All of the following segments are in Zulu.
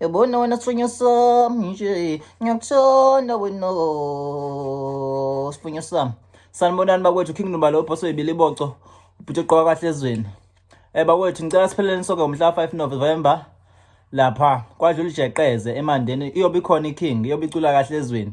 Ebona wena sifunyo sami nje ngiyakuthanda wena sifunyo sami sanibonani bakwethu king nobalo ubhoso ibili boco ubhuti ogqoka kahle ezweni eh bakwethu ngicela sipheleleni soke ngomhla 5 November lapha kwadlula ijeqeze emandeni iyobe ikhona iking iyobe icula kahle ezweni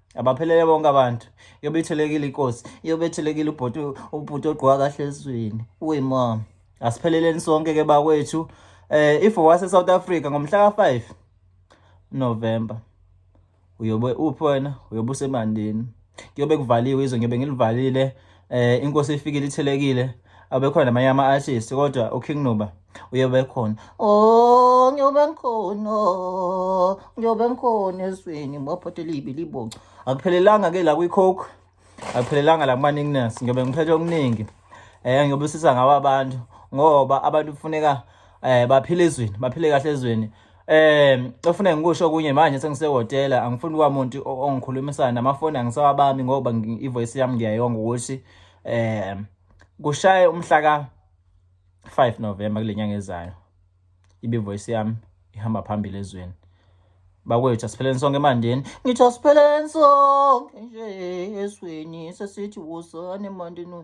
abaphelele bonke abantu yobe ithelekile inkosi yobe ithelekile ubhuti ubhuti ogqoka kahle ezweni uyimom asipheleleni sonke ke bakwethu eh if wase South Africa ngomhla ka5 November uyobe uphi wena uyobe usemandini kuyobe kuvaliwe izwe ngiyobe ngilivalile eh inkosi ifikile ithelekile abekhona namanye ama artist kodwa uKing Nuba uyobe khona oh ngiyobe ngikhona ngiyobe ngikhona esweni ngibaphathe libi libonga akuphelelanga ke la kwicoke akuphelelanga la kumaningness ngiyobe ngiphethe okuningi eh ngiyobe sisa ngawo abantu ngoba abantu kufuneka eh baphile ezweni baphile kahle ezweni Eh, ofuna ngikusho kunye manje sengisehotela angifuni kwamuntu ongikhulumisana namafoni angisawabami ngoba ivoice yami ngiyayonga ukuthi eh kushaye umhla ka 5 November kulenyanga ezayo. Ibe voice yami ihamba phambili ezweni. bakwethu asipheleni sonke emandeni ngithi asipheleni sonke nje esweni sesithi wosane emandeni